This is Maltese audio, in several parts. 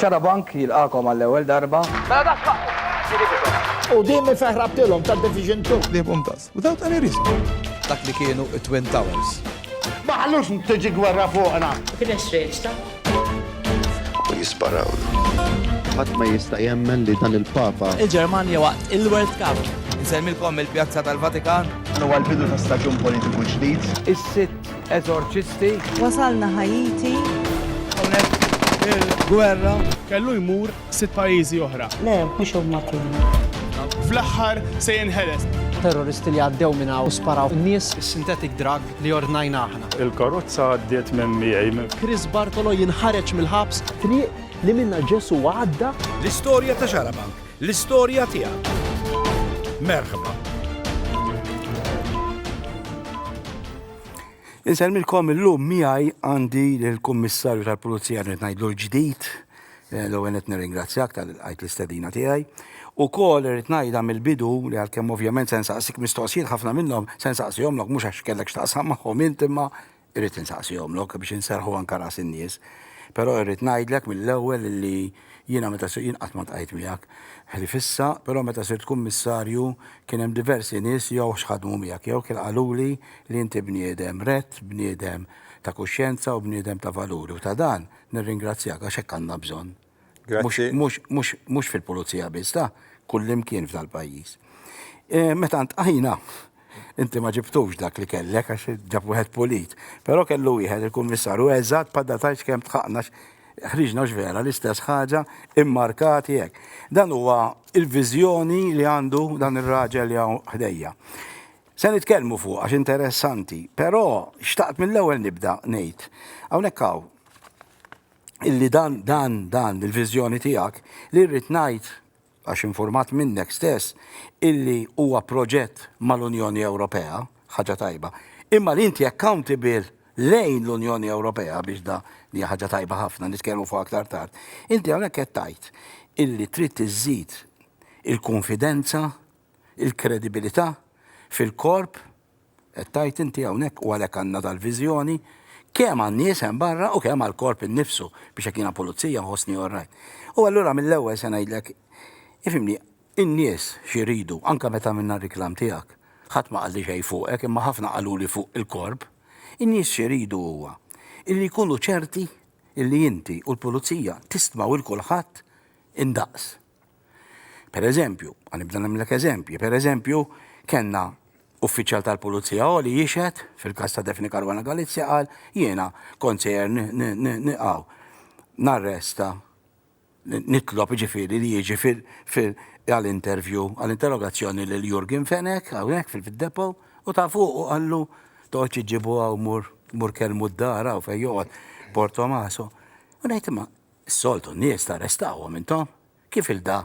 Xarabank jilqagħkom għall-ewwel darba. Mela dak x'aqt. U din min feħrabtilhom ta' Division Two. Ħliebhom tas. Without any reason. Dak li kienu t-Twin Towers. Ma ħallux tiġi gwerra fuqna. Kien hemm xreġta. U jisparawlu. Ħadd ma jista' jemmen li dan il-Papa. Il-Ġermanja waqt il-World Cup. Insellmilkom mill-Pjazza tal-Vatikan. Dan huwa l-bidu ta' staġun politiku ġdid. Is-sitt. Eżorċisti. Wasalna Ħaiti. Hawnhekk il-gwerra. Kellu jmur sitt pajjiżi oħra. Le, mhux huma kienu. Fl-aħħar se jinħeles. Terroristi li għaddew minn hawn u sparaw in-nies. Is-synthetic drug li ordnajna aħna. Il-karozza għaddiet minn miegħi. Chris Bartolo jinħareġ mill-ħabs. Triq li minnha Ġesù għadda. L-istorja ta' Xarabank L-istorja tiegħek. Merħba. Insellmilkom illum miegħi għandi l-Kummissarju tal-Pulizija rrid ngħidlu l-ġdid, eh, l-ewwel qed nirringrazzjak tal-qajt l-istedina tiegħi. U kol rrid ngħidha mill-bidu li għalkemm ovvjament se nsaqsik mistoqsijiet ħafna minnhom se nsaqsihomlok mhux għax kellek x'taqsam magħhom int imma Irrid insaqsihomlok biex inserrħu anke ras in-nies. Però irrid ngħidlek mill-ewwel li jiena meta sirt, jien qatt ma ltqajt miegħek ħlief issa, però meta sirt Kummissarju kien hemm diversi nies jew x'ħadmu miegħek jew kien qaluli li inti bniedem rett, bniedem ta' kuxjenza u bniedem ta' valuri u ta' dan nirringrazzjak għax hekk għandna bżonn. Grazzi. Mhux, mhux, mhux fil-pulizija biss, ta' kullimkien f'dal-pajjiż. Eh, meta ntqajna, inti ma ġibtux dak li kellek għax ġab wieħed pulit, però kellu wieħed il-kummissarju eżatt bħal da tgħidx kemm tħaqna ħriġna x'vera l-istess ħaġa immarkati hekk. Dan huwa il-viżjoni li għandu dan ir-raġel li hawn ħdejja. Se nitkellmu fuq għax interessanti, però xtaqt mill-ewwel nibda ngħid. Hawnhekk hawn illi dan, dan, dan il-viżjoni tiegħek li rrid ngħid, għax infurmat minnek stess, illi huwa proġett mal-Unjoni Ewropea, ħaġa tajba, imma li inti accountable lejn l-Unjoni Ewropea biex da li hija ħaġa tajba ħafna, nitkellmu fuq aktar tard, inti hawnhekk qed tgħid illi trid iżżid il-kunfidenza, il-kredibilità fil-korp Qed tgħid inti hawnhekk, u għalhekk għandna dal-viżjoni, kemm għan-nies hemm barra u kemm għall-korp innifsu, biex jekk jiena pulizija nħossni all right. U allura mill-ewwel se ngħidlek, ifhimni, in-nies x'iridu, anke meta għamilna r-riklam tiegħek, ħadd ma qalli xejn fuqek imma ħafna qaluli fuq il-korp, in-nies x'iridu huwa illi jkunu ċerti illi inti u l-pulizija tistmaw 'il kulħadd indaqs. Per eżempju, għanibda nagħmlek eżempji, per eżempju, kellna uffiċjal tal-Pulizija Oli jixed fil-każ ta' Defni Caruana Galizia qal jiena kont sejjer niqgħu narresta nitlob ġifieri li jiġi fil għal-intervju għal-interrogazzjoni lil Jurgen Fenek hawnhekk fil-depo u ta' fuq u qallu toqgħodx iġġibu hawn mur mur kelmu d-dar hawn fejn joqgħod Portomaso. U ngħid imma Is-soltu n-nies tarrestawhom intom? Kif ilda?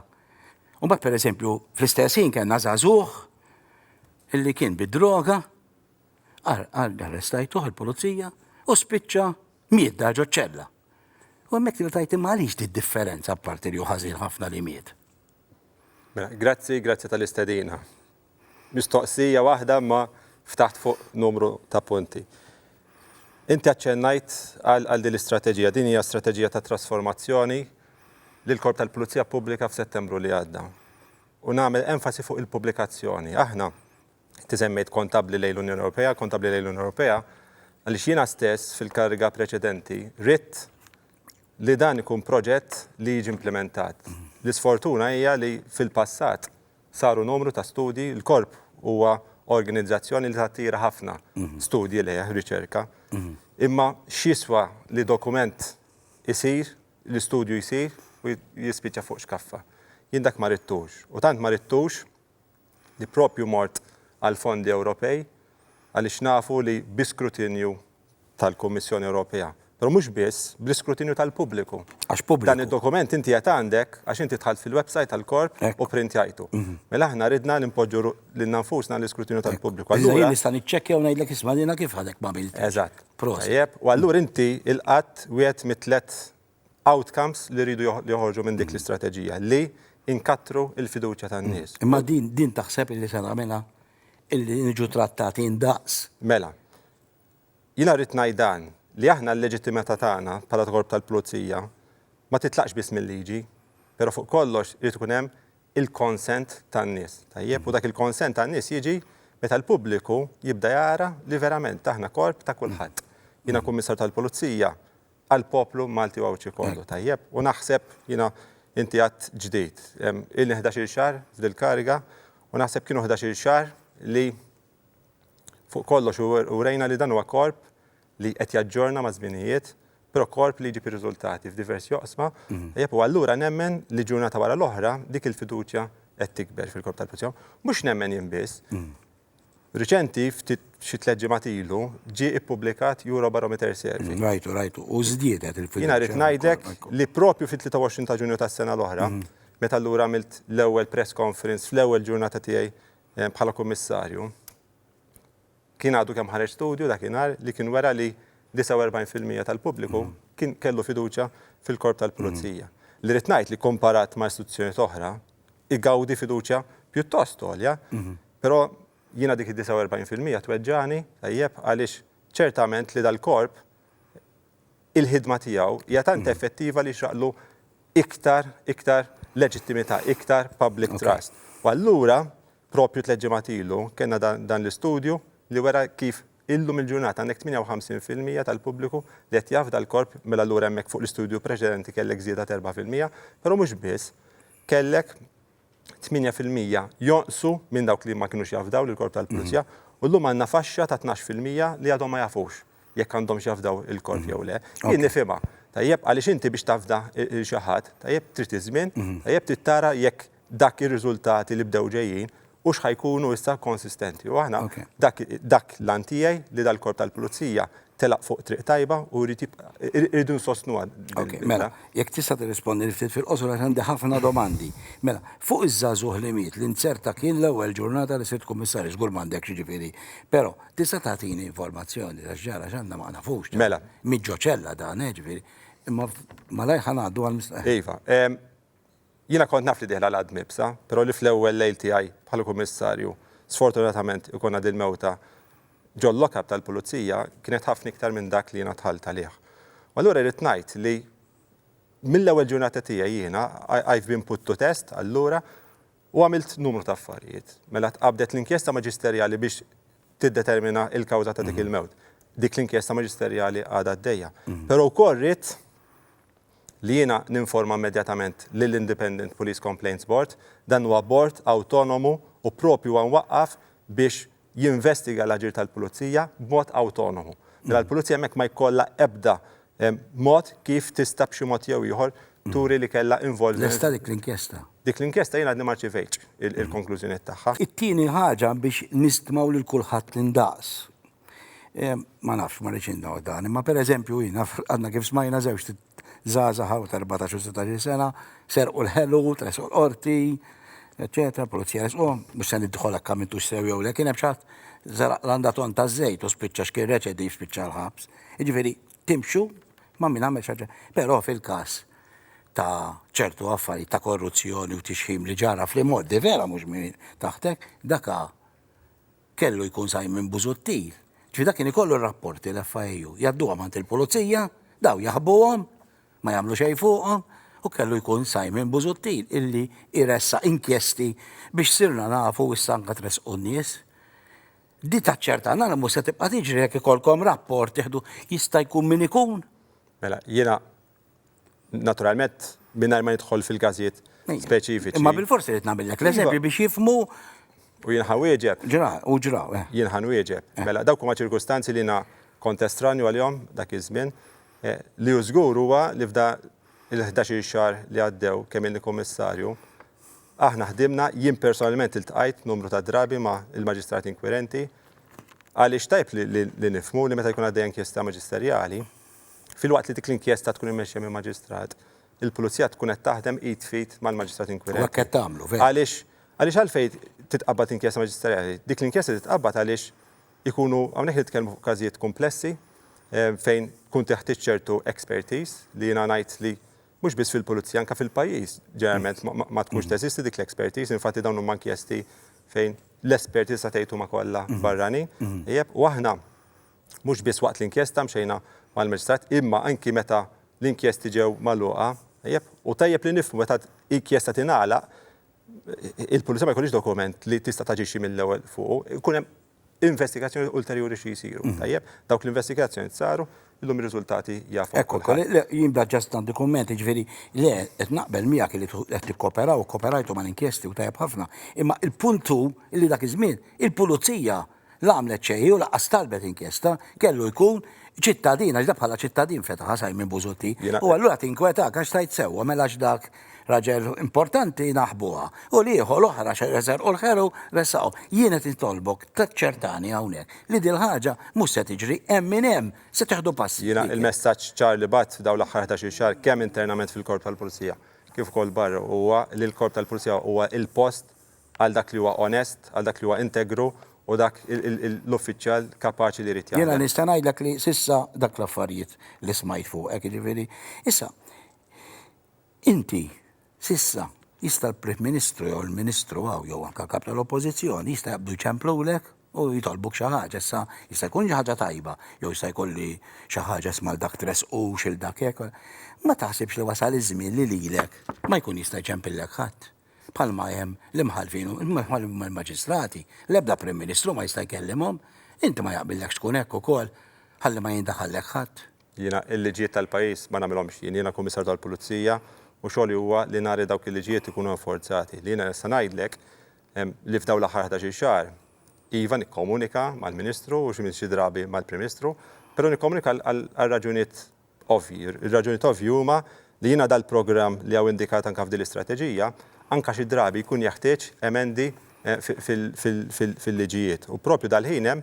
U mbagħad pereżempju fl-istess ħin kellna żagħżugħ illi kien bid-droga arrestajtuh il-pulizija u spiċċa miet dar ġo ċella. U hemmhekk tibda tajt imma għaliex di differenza apparti li hu ħażin ħafna li miet. Mela, grazzi, grazzi tal-istedina. mistoqsija waħda imma ftaħt fuq numru ta' punti. Inti aċċennajt għal din l-istrateġija. Din hija strateġija ta' trasformazzjoni li l-Korp tal-Pulizija ppubblika f'Settembru li għadda. U nagħmel enfasi fuq il-pubblikazzjoni. Aħna, inti semmejt kontabbli lejn l-Unjoni Ewropea, kontabbli lejn l-Unjoni Ewropea, għaliex jiena stess fil-kariga preċedenti ridt li dan ikun proġett li jiġi implimentat. L-isfortuna hija li fil-passat saru numru ta' studji, il-Korp huwa organizzazzjoni li tattira ħafna studji lejh, riċerka, imma x'jiswa li dokument isir, li studju jsir u jispiċċa fuq xkaffa? Jien dak ma ridtux. U tant ma ridtux li proprju mort għall-fondi Ewropej għaliex nafu li bi skrutinju tal-Kummissjoni Ewropea. Però mhux biss, bl-iskrutinju tal-pubbliku. Għax pubbliku. Dan id-dokument inti qed għandek għax inti dħalt fil-website tal-korp u pprintjajtu. Mela aħna ridna li npoġġu lilna nfusna għall-iskrutinju tal-pubbliku. Allura jien nista' niċċekkja u ngħidlek isma' jiena kif ħadek m'għamiltx. Eżatt. Proset. Tajjeb, u allura inti ilqadt wieħed mit-tliet outcomes li rridu joħorġu minn dik l-istrateġija, li nkattru l-fiduċja tan-nies. Imma din taħseb illi se nagħmilha? Illi niġu trattati ndaqs? Mela, Jiena rrid ngħid dan, li aħna l-leġittimità tagħna bħala ta' korp tal-pulizija ma titlaqx biss mil-liġi, però fuq kollox irid ikun hemm il-consent tan-nies, tajjeb? U dak il-consent tan-nies jiġi meta l-pubbliku jibda jara li verament aħna korp ta' kulħadd. Jiena Kummissarju tal-Pulizija għall-poplu Malti u Għawdxi kollu, tajjeb? U naħseb, jiena, inti għadt ġdid, ilni ħdax-il xahar f'dil-kariga u naħseb kienu ħdax-il xahar li, Fuq kollox urejna li dan huwa korp li qed jaġġorna maż-żminijiet, però korp li jġib ir-riżultati f'diversi oqsma, tajjeb, u allura nemmen li ġurnata wara l-oħra dik il-fiduċja qed tikber fil-Korp tal-Pulizija. Mhux nemmen jien biss. Riċenti, ftit xi tliet ġimgħat ilu, ġie ippubblikat Eurobarometer Survey. Rajtu, rajtu, u żdiedet il-fiduċja. Jiena rrid ngħidlek li proprju fit-23 ta' Ġunju tas-sena l-oħra, meta allura għamilt l-ewwel press conference fl-ewwel ġurnata tiegħi bħala Kummissarju, kien għadu kemm ħareġ studju dakinhar li kien wera li 49 fil-mija tal-pubbliku kien kellu fiduċja fil-Korp tal-Pulizija. Li rrid ngħid li komparat ma' istituzzjonijiet oħra, igawdi fiduċja pjuttost għolja, però jiena dik id-49 fil-mija tweġġagħni, tajjeb, għaliex ċertament li dal-Korp, il-ħidma tiegħu hija tant effettiva li jixraqlu iktar, iktar leġittimità, iktar public trust. U allura, proprju tliet ġimgħat ilu, kellna dan l-istudju li wera kif illum il-ġurnata għandek 58 fil-mija tal-pubbliku li qed jafda l-Korp, mela allura hemmhekk fuq l-istudju preċedenti kellek żieda t'erbgħa fil-mija, però mhux biss, kellek 8 fil-mija jonqsu minn dawk li ma kinux jafdaw lill-Korp tal-Pulizija u llum għandna faxxa ta' tnax fil-mija li għadhom ma jafux jekk għandhomx jafdaw il-Korp jew le. Jien nifhimha, tajjeb, għaliex inti biex tafda lil xi ħadd, tajjeb, trid iż-żmien, tajjeb, trid tara jekk dak ir-riżultati li bdew ġejjin hux ħa jkunu issa konsistenti. U aħna, dak l-għan tiegħi li dal-Korp tal-Pulizija telaq fuq triq tajba u jrid jibqa'. Irridu nsostnuha din il-bidla. Okej, mela, jekk tista' tirrispondili ftit fil-qosor għax għandi ħafna domandi. Mela, fuq iż-żagħżugħ li miet li nzerta kien l-ewwel ġurnata li sirt Kummissarju, żgur m'għandekx jiġifieri, però tista' tagħtini informazzjoni ta' x'ġara x'għandna ma nafux. Mela. Miet ġo ċella dan, eh, jiġifieri. Imma malajr ħa ngħaddu għall-mistoqsija. Iva. Jiena kont naf li dieħla l-għadd mibsa, però li fl-ewwel lejl tiegħi bħala Kummissarju sfortunatament ikun għad il-mewta ġol-lock-up tal-Pulizija kienet ħafna iktar minn dak li jiena dħalt għalih. U allura rrid ngħid li mill-ewwel ġurnata tiegħi jiena I've been put to test allura u għamilt numru ta' affarijiet. Mela tqabdet l-inkjesta maġisterjali biex tiddetermina l-kawża ta' dik il-mewt. Dik l-inkjesta maġisterjali għadha għaddejja. Però wkoll ridt, li jiena ninforma immedjatament lill-Independent Police Complaints Board, dan huwa bord awtonomu u proprju huwa mwaqqaf biex jinvestiga l-aġir tal-pulizija b'mod awtonomu. Mela l-pulizija hemmhekk ma jkollha ebda mod kif tista' b'xi mod jew ieħor turi li kellha involviment. Lesta dik l-inkjesta? Dik l-inkjesta jiena għadni ma rċivejtx il-konklużjonijiet tagħha. It-tieni ħaġa biex nistmaw lil kulħadd l-indaqs. Ma nafx, ma rridx indaw dan, imma per eżempju jiena għadna kif smajna żewġ żgħażagħ hawn ta' 14 u 16 sena serqu l-ħelu, tresqu l-qorti, eċetera, pulizija resquhom, mhux se nidħol hekk għamiltu sew jew le, kien hemm xatt żaraq l-għanda ton ta' żejt u spiċċa x'kien reċedi spiċċa l-ħabs. Jiġifieri timxu ma' min għamel xaġa. Però fil-każ ta' ċertu affarijiet ta' korruzzjoni u tixħim li ġara fl-imoddi vera mhux min taħtek, daka Kellu jkun Simon Busuttil. Ġifieri dak kien ikollu r-rapporti l-FIU. Jgħadduhom għand il-Pulizija, dawn jaħbuhom, ma jagħmlu xejn fuqhom, u kellu jkun Simon Busuttil illi jressaq inkjesti biex sirna nafu issa anke tressqu n-nies. Di taċċerta nara mhux se tibqa' tiġri jekk ikollkom rapport tieħdu jista' jkun min ikun. Mela, jiena naturalment mingħajr ma nidħol fil-każijiet speċifiċi. Imma bil-forsi rrid nagħmillek l-eżempji iva. biex jifmu U jien ħawieġeb. Ġra, u ġra. Eh. Jien ħanwieġeb. Eh. Mela, dawk huma ċirkustanzi li na kontestranju għal-jom dak iż-żmien. Eh, li hu żgur huwa li f'da il-11 xar li għaddew kemm inni kummissarju, aħna ħdimna jien personalment iltqajt numru ta' drabi ma' il-maġistrat inkwirenti għaliex tajb li nifmu li meta jkun għaddej inkjesta maġisterjali, Filwaqt li dik l-inkjesta tkun immexxija minn maġistrat, il-pulizija tkun qed taħdem id f'id mal-maġistrat inkwirenti. U hekk qed tagħmlu, veru. Għaliex għaliex għalfejn titqabbad inkjesta maġisterjali? Dik l-inkjesta titqabbad għaliex ikunu hawnhekk nitkellmu fuq każijiet kumplessi fejn tkun teħtieġ ċertu expertise li jiena ngħid li mhux biss fil-pulizija anke fil-pajjiż ġeneralment ma tkunx teżisti dik l-expertise, infatti dawn huma inkjesti fejn l-esperti tista' tgħid huma kollha barranin. Ejjeb, u aħna Mhux biss waqt l-inkjesta mxejna mal-Maġistrat imma anki meta l-inkjesti ġew magħluqa, tajjeb? U tajjeb li nifhmu meta inkjesta tingħalaq il-Pulizija ma jkollhiex dokument li tista' taġixxi mill-ewwel fuqu, ikun hemm investigazzjonijiet ulterjuri xi jsiru, tajjeb? Dawk l-investigazzjonijiet saru, illum ir-riżultati jafuh kulħadd. Ekku, le, jien da just għandi kumment, jiġifieri, le, qed naqbel miegħek li qed tikkooperaw u kkooperajtu mal-inkjesti u tajjeb ħafna, imma l-punt hu li dak iż-żmien il-Pulizija La għamlet xejn u lanqas talbet inkjesta, kellu jkun ċittadin għax dak bħala ċittadin fetaħha Simon Busuttil. U allura tinkwetak għax tgħid sewwa mela għax dak raġel importanti naħbuha u l-ieħor l-oħra serqu l-ħelu ressaqhom. Jien qed nitolbok taċċertani hawnhekk li dil-ħaġa mhux se tiġri hemm min hemm se teħdu passi. Jiena l-messaġġ ċar li bgħatt f'dawn l-aħħar ħdax-il xahar kemm internament fil-Korp tal-Pulizija kif ukoll barra huwa li l-Korp tal-Pulizija huwa l-post għal dak li huwa onest, għal dak li huwa integru u dak l-uffiċjal kapaċi li jrid jaħdem. Jiena nista' ngħidlek li s'issa dak l-affarijiet li smajt fuqek, jiġifieri, issa, inti s'issa jista' l-Prim Ministru jew il-Ministru hawn jew anke l-Kap tal-Oppożizzjoni jista' jaqbdu jċemplulek u jitolbuk xi ħaġa. Issa jista' jkun xi ħaġa tajba jew jista' jkolli xi ħaġa isma' dak tressqux il dak hekk. Ma taħsibx li wasal iż-żmien li lilek ma jkun jista' jċempillek ħadd. bħalma hemm l-imħallfin u l-maġistrati, l-ebda Prim Ministru ma jista' jkellimhom, inti ma jaqbillekx tkun hekk ukoll ħalli ma jindaħallek ħadd. Jiena l-liġijiet tal-pajjiż ma nagħmilhomx jien, jiena l-Kummissarju tal-Pulizija u xogħli huwa li nara li dawk il-liġijiet ikunu enforzati. Li jiena nista' ngħidlek li f'dawn l-aħħar ħdax-il xahar, iva nikkomunika mal-Ministru u xi drabi mal-Prim Ministru, però nikkomunika għal raġunijiet ovvji. Ir-raġunijiet ovvji huma li jingħada l-programm li hawn indikat anke f'din l-istrateġija, anke xi drabi jkun jeħtieġ emendi fil-liġijiet. U proprju dal-ħin hemm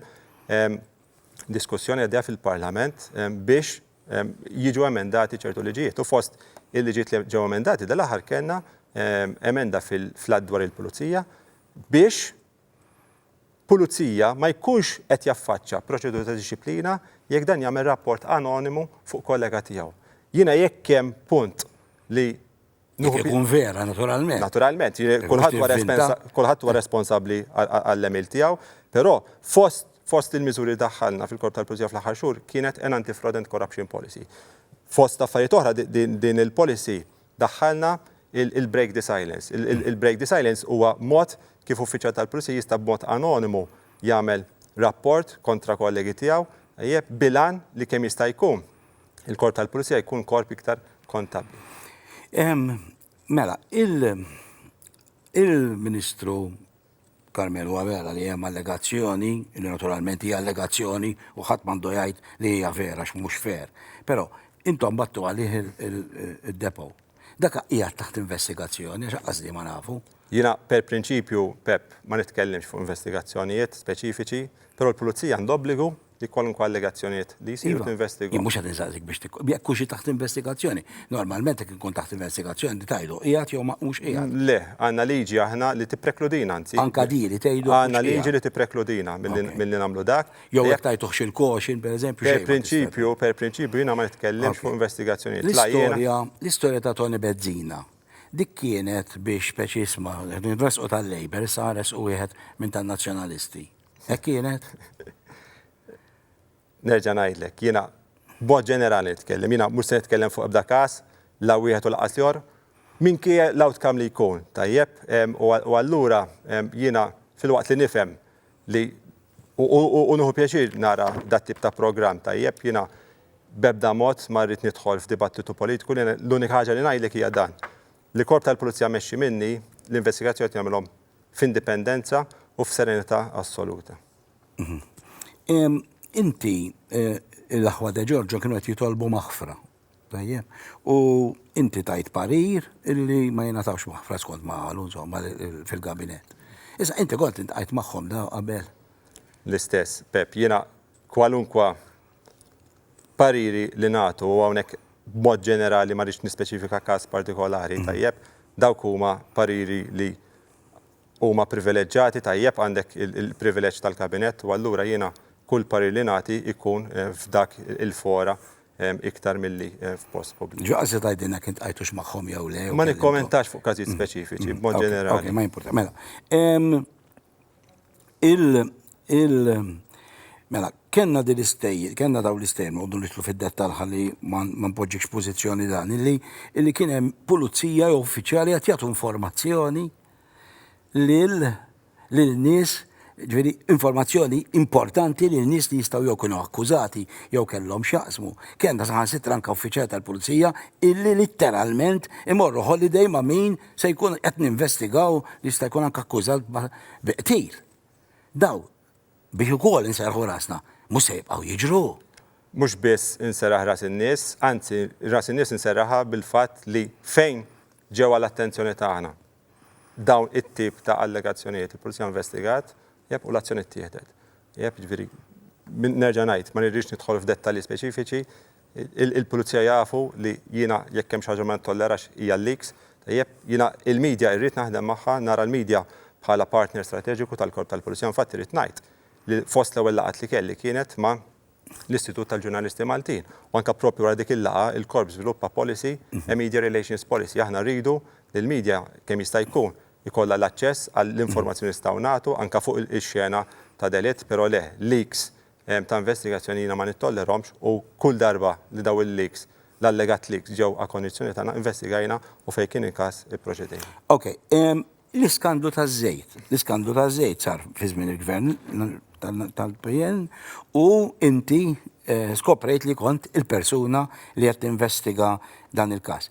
diskussjoni għaddejja fil-Parlament biex jiġu emendati ċertu liġijiet. U fost il-liġijiet li ġew emendati dal-aħħar kellna emenda fil-Att dwar il-Pulizija biex pulizija ma jkunx qed jaffaċċja proċedura ta' dixxiplina jekk dan jagħmel rapport anonimu fuq kollega tiegħu. Jiena jekk hemm punt li Jekk ikun vera, naturalment. Naturalment, kulħadd huwa responsabbli għall-għemil tiegħu, però fost fost il-miżuri li daħħalna fil-korp tal-Pulizija fl-aħħar xhur kienet an anti-fraud and corruption policy. Fost affarijiet oħra din il-policy Daħħalna il-break the silence. Il-break the silence huwa mod kif uffiċjal tal-pulizija jista' b'mod anonimu jagħmel rapport kontra kollegi tiegħu, tajjeb, bil-għan li kemm jista' jkun il-korp tal-pulizija jkun korp iktar kontabbli. Mela, il-Ministru Carmel huwa vera li hemm allegazzjoni, li naturalment hija allegazzjoni u ħadd m'għandu jgħid li hija vera għax mhux fair. Però intom battu għalih id-depo. Dak qiegħed taħt investigazzjoni għax anqas di ma nafu. Jiena per prinċipju, Pepp, ma nitkellimx fuq investigazzjonijiet speċifiċi, però l-Pulizija għandha obbligu Li kwalunkwe allegazzjonijiet li jsiru Iva, tinvestiga. jien mhux qed insaqsik biex tikku. Jekk hux taħt investigazzjoni. Normalment jekk ikun taħt investigazzjoni inti tgħidu qiegħed jew ma hux qiegħed. Le, għandna liġi aħna li tipprekludina anzi. Anka di li tgħidu mhux Għandna liġi qiegħed. li tipprekludina milli Ok. milli nagħmlu dak. Jew Jekk jekk tajtuhx il-caution, pereżempju, xejn Per ma tista' prinċipju, per prinċipju jiena ma nitkellimx Ok. fuq investigazzjonijiet. La jiena L-istorja, l-istorja ta' Toni Bezzina, dik kienet biex speċi isma' qed nresqu tal-Labour, issa ħa nresqu wieħed minn tan-Nazzjonalisti. Hekk kienet. Nerġa' ngħidlek, jiena b'mod ġenerali nitkellem, jiena mhux se nitkellem fuq ebda każ, la wieħed u lanqas l-ieħor, minkejja l-outcome li jkun, tajjeb? U allura jiena filwaqt li nifhem li u nieħu pjaċir nara dat-tip ta' programm, tajjeb? Jiena b'ebda mod ma rrid nidħol f'dibattitu politiku, l-unika ħaġa li ngħidlek hija dan. Li korp tal-pulizija mmexxi minni, l-investigazzjoni qed jagħmilhom f'indipendenza u f'serenità assoluta. Inti, l-aħwa De Giorgio kienu qed jitolbu maħfra, tajjeb? U inti tajt parir illi ma jingħatawx maħfra skont ma qalu insomma fil-gabinett. Issa inti kont iltqajt magħhom dawn qabel? L-istess, Pepp. Jiena kwalunkwe pariri li nagħtu, u hawnhekk b'mod ġenerali ma rridx nispeċifika każ partikolari, tajjeb, dawk huma pariri li huma privileġġati, tajjeb, għandek il-privileġġ tal-Kabinett u allura jiena kull parir li nagħti jkun f'dak il-fora iktar milli f'post pubbliku. Ġo qal se tgħidilna jekk iltqajtux magħhom jew le? Ma nikkommentax fuq każijiet speċifiċi b'mod ġenerali. Okej, ma jimpurtax. Mela. il il mela kellna din l-istejjer, kellna dawn l-istejjer noqogħdu nitlu fid-dettall ħalli ma npoġġikx pożizzjoni dan illi illi kien hemm pulizija jew uffiċjali qed jagħtu informazzjoni lil lil nies ġveri informazzjoni importanti li nies li jistaw jew kienu akkużati jew kellhom xaqsmu. Kenna saħan sitra anka uffiċjal tal-pulizija illi litteralment imorru holiday ma' min Se jkun qed ninvestigaw li jista' jkun anke akkużat bi qtil. Dawn, biex ukoll inserrħu rasna, mhux se jibqgħu jiġru. Mhux biss inserraħ ras in-nies, anzi ras in-nies inserraħha bil-fatt li fejn ġew għal attenzjoni tagħna dawn it-tip ta' allegazzjonijiet, il-Pulizija investigat, jep, u l-azzjoni ttieħdet. Jep, jiġifieri, nerġa' ngħid, ma nirridx nidħol f'dettalji speċifiċi, Il-Pulizija jafu li jiena jekk hemm xi ħaġa ma nittollerax hija l-leaks. Tajjeb, jiena il-media irrid naħdem magħha, nara l-media bħala partner strateġiku tal-Korp tal-Pulizija. Infatti irrid ngħid li fost l-ewwel laqgħat li kelli kienet ma' l-Istitut tal-Ġurnalisti Maltin u anke proprju wara dik il-laqgħa il-Korp żviluppa policy, a media relations policy. Aħna rridu li l-media kemm jista' jkun ikollha l-aċċess għall-informazzjoni nistgħu nagħtu anke fuq ix-xena ta' delitt, però le, leaks ta' investigazzjoni jiena ma nittollerahomx u kull darba li dawn il-leaks, l-allegat leaks ġew akonnizzjoni tagħna investigajna u fejn kien il-każ ipproċedejna. Ok, l-iskandlu taż-żejt. L-iskandlu taż-żejt sar fi żmien il-Gvern tal-PN u inti skoprejt li kont il-persuna li qed tinvestiga dan il-każ.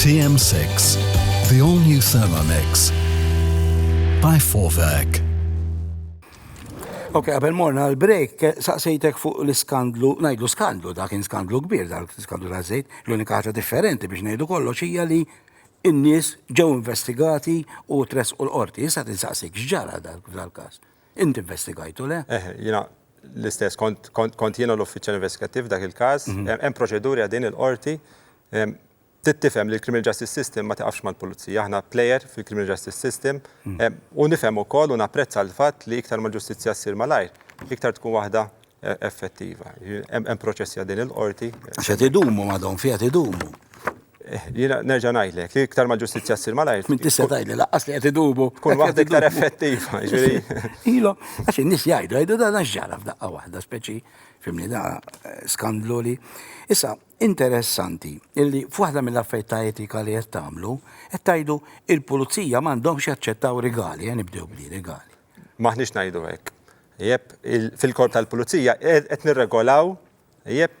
TM6, the all new Thermomix by Forvac. Ok, għabel morna l-break, saqsejtek fuq l-skandlu, najdu skandlu, da kien skandlu kbir, da skandlu ta' zejt, l-unika ħaġa differenti biex najdu kollox hija li n-nies ġew investigati u tres u l-qorti, jissa tinsaqsik xġara dal-kas. Int investigajt u le? Eh, jiena l-istess, kont jiena l-uffiċjal investigattiv dak il-każ, mhm. hemm proċeduri għadin il-qorti tittifhem li l-criminal justice system ma tiqafx mal-pulizija, aħna player fil-criminal justice system hmm. u nifhem ukoll u napprezza l-fatt li iktar ma ġustizzja ssir malajr, iktar tkun waħda effettiva. Hemm proċessi għaddin il-qorti. Għax qed idumu madhom fi qed idumu. Eh, jiena nerġa' ngħidlek, iktar ma ġustizzja ssir malajr. Min tista' tgħidli laqqas li qed idumu. Tkun waħda iktar effettiva, Ilhom, għax in-nies jgħidu, jgħidu dan għax ġara f'daqqa waħda, speċi fimni da eh, skandlu li. Issa, interessanti, illi f'waħda mill-affarijiet ta' etika li qed tagħmlu, qed tgħidu il-pulizija m'għandhomx jaċċettaw rigali, eh, nibdew bli rigali. Maħniex ngħidu hekk. Ieb, Fil-Korp tal-Pulizija qed nirregolaw, ieb,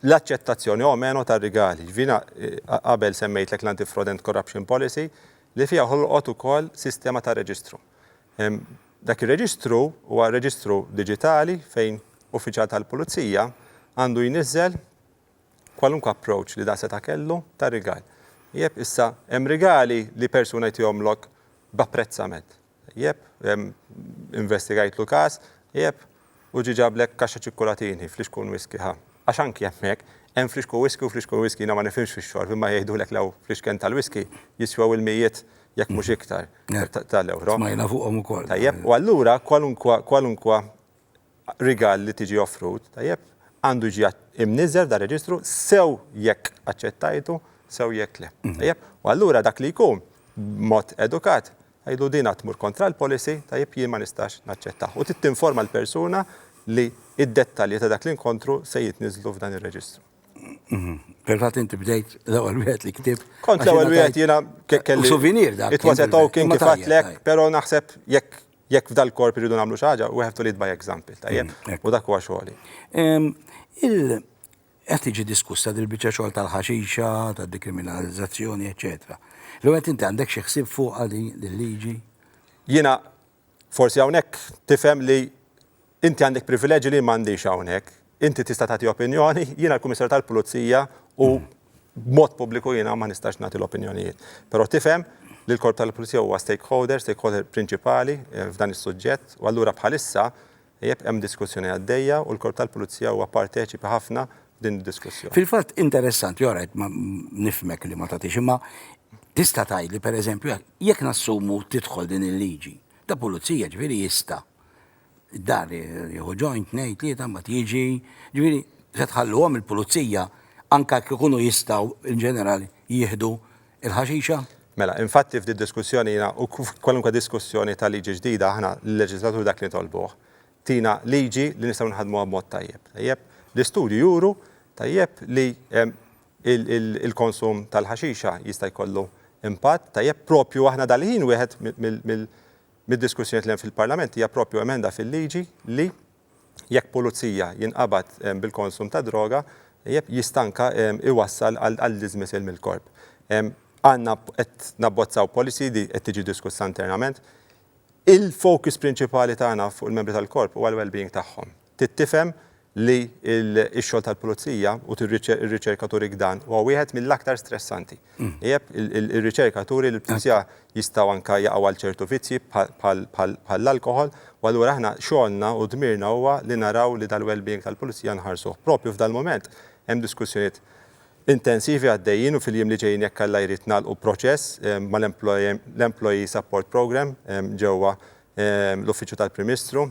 l-aċċettazzjoni o meno tar-rigali. Ġifieri qabel semmejtlek l-Anti-Fraud and Corruption Policy li fiha ħolqot ukoll sistema ta' reġistru. Dak ir-reġistru huwa reġistru diġitali fejn uffiċjal tal-pulizija għandu jniżżel kwalunkwe approach li dan seta' kellu ta' rigal. Ieb, Issa hemm rigali li persuna jtihomlok b'apprezzament. Jep, investigajtlu każ, jep, u ġie ġablek kaxxa ċikkulatini, flixku un whisky, ha. Għax anki hemmhekk, hemm flixku whisky u flixku un whisky, jiena ma nifhimx fix-xorb, imma jgħidulek lew flixken tal-whisky jiswew il-mijiet, jekk mhux iktar, ta' l-ewro. Smajna fuqhom ukoll. Tajjeb, u allura kwalunkwa, kwalunkwa rigal li tiġi offrut, tajjeb, għandu jiġi imniżżel f'dan ir-reġistru sew jekk aċċettajtu, sew jekk le. Tajjeb? U allura dak li jkun, b'mod edukat, tgħidlu din għad tmur kontra l-policy, tajjeb, jien ma nistax naċċettah. U trid tinforma l-persuna li d-dettalji ta' dak l-inkontru se jitniżżlu f'dan ir-reġistru. Fil-fatt inti bdejt l-ewwel wieħed li ktibt. Kont l-ewwel wieħed jiena kelli. Souvenir dak. It was a token kif għedtlek, però naħseb jekk Jekk f'dal-korp irridu nagħmlu xi ħaġa, we have to lead by example, tajjeb? U dak huwa xogħli. Qed tiġi diskussa dil-biċċa xogħol tal-ħaxixa, tad-dekriminalizzazzjoni, eċċetera. L-ewwel inti għandek xi ħsieb fuqha din il-liġi? Jiena forsi hawnhekk tifhem li Inti għandek privileġġi li jien m'għandix hawnhekk. Inti tista' tagħti opinjoni, jiena l-Kummissarju tal-Pulizija u b'mod pubbliku jiena ma nistax nagħti l-opinjonijiet. Però tifhem li l-Korp tal-Pulizija huwa stakeholder, stakeholder prinċipali f'dan is-suġġett u allura bħalissa jep hemm diskussjoni għaddejja u l-Korp tal-Pulizija huwa parteċipi ħafna f'din id-diskussjoni. Fil-fatt interessanti, all right, nifhmek li ma tagħtix imma tista' tgħidli pereżempju jekk nassumu tidħol din il-liġi, ta' pulizija ġifieri jista' Id-dar jieħu ġojn, tnejn, tlieta, mbagħad jiġi. Ġifieri, se tħalluhom il-pulizija anke jekk ikunu jistgħu in ġenerali jieħdu l-ħaxixa? Mela, infatti f'di diskussjoni jiena u kwalunkwe diskussjoni ta' liġi ġdida aħna l-leġiżlatur dak li nitolbuh, tina liġi li nistgħu nħaddmuha b'mod tajjeb. Tajjeb? L-istudju juru, tajjeb, li l-konsum tal-ħaxixa jista' jkollu impatt, tajjeb, proprju aħna dal-ħin wieħed mill mid-diskussjonijiet li hemm fil-Parlament hija proprju emenda fil-liġi li jekk pulizija jinqabad bil-konsum ta' droga jista' anke jwassal għal dismissal mill-korp. Għandna qed nabbozzaw policy li qed tiġi diskussa internament. Il-focus prinċipali tagħna fuq il-membri tal-korp huwa l-well-being tagħhom. Trid tifhem li x-xogħol tal-pulizija, u r-riċerka turik dan, huwa wieħed mill-aktar stressanti. Ijeb, ir-riċerka turi li l-pulizija jistgħu anke jaqgħu għal ċertu vizzji bħall-alkoħol, u allura aħna xogħolna u dmirna huwa li naraw li dal-wellbeing tal-pulizija nħarsuh. Proprju f'dal-mument hemm diskussjonijiet intensivi għaddejjin u fil-jiem li ġejjin jekk Alla jrid nagħlqu proċess mal-Employee Support Programme ġewwa l-Uffiċċju tal-Prim Ministru.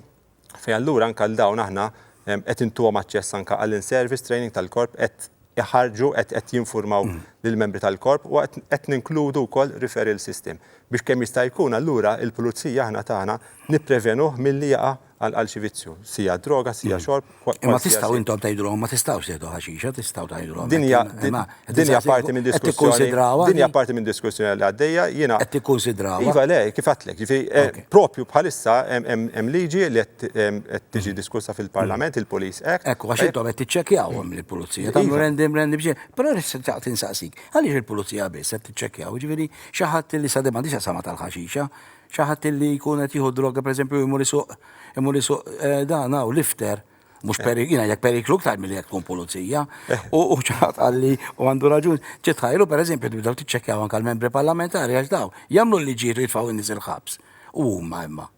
fejn allura anke għal dawn aħna qed intuhom aċċess anke għal in-service training tal-korp, qed iħarrġu, qed jinfurmaw lill-membri tal-korp u qed ninkludu wkoll referral system biex kemm jista' jkun allura l-pulizija aħna tagħna nipprevenuh milli jaqa' għal xi vizzju, sija droga, sija xorb. Imma tistgħu intom tgħidulhom ma tistgħux tieħdu ħaxixa, tistgħu tgħidulhom hekk, imma Din hija parti minn diskussjoni. Din hija parti minn diskussjoni li għaddejja jiena. Qed tikkunsidrawha. Iva le, kif għatlek. Eh, propju bħalissa hemm liġi li qed tiġi diskussa fil-Parlament, il-Police Act. Ekku, għax intom qed tiċċekkjawhom il-Pulizija. Tagħmlu iva. rendim rendi biex. Però nistaq tinsaqsik, għaliex il-Pulizija biss qed tiċċekkjaw, ġifieri xi ħadd li sa demandi sa sama tal-ħaxixa, xi ħadd li jkun qed jieħu droga pereżempju jmur isuq imur isuq eh, dan hawn lifter Mux eh. periklu, jina jek periklu ktar mill jek tkun pulizija. Eh. U ċaħat għalli u għandu raġun. ċitħajlu per eżempju, tibdaw t-ċekjaw anka l-membri parlamentari għax daw. Jamlu li ġiru jitfaw n-nis il-ħabs. U ma imma.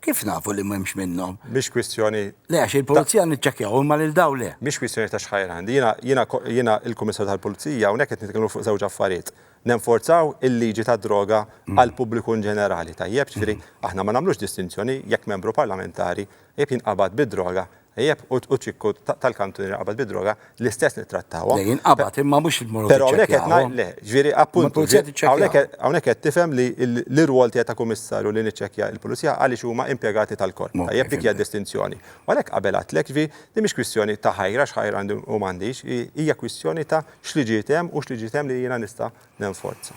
Kif nafu li memx minnom? Biex kwistjoni. Le, għax il-polizija nitċekjaw, imma lil daw le. Biex kwistjoni ta' xħajr għandi. Jina il-komissar tal-polizija, unek qed nitkellmu fuq żewġ affarijiet. Nenforzaw il-liġi ta' droga mm. għal pubbliku in ġenerali. Tajjeb, ġifieri mm. aħna ma nagħmlux distinzjoni jekk membru parlamentari Ejjeb jinqabad bid-droga, ejjeb u ċikku tal-kantun jinqabad bid-droga, l-istess nittrattawhom. Le jinqabad imma mhux immorru tiċċekkjawhom. Le, ġifieri appuntu, hawnhekk qed tifhem li l-irwol tiegħi ta' kummissarju li niċċekkja l-pulizija għaliex huma impjegati tal-korp. Tajjeb, dik hija d-distinzjoni. U għalhekk qabel għedtlek, ġifieri din mhix kwistjoni ta' ħajra, x'ħajr għandi u m'għandix, hija kwistjoni ta' x'liġijiet hemm u x'liġijiet hemm li jiena nista' nenforza.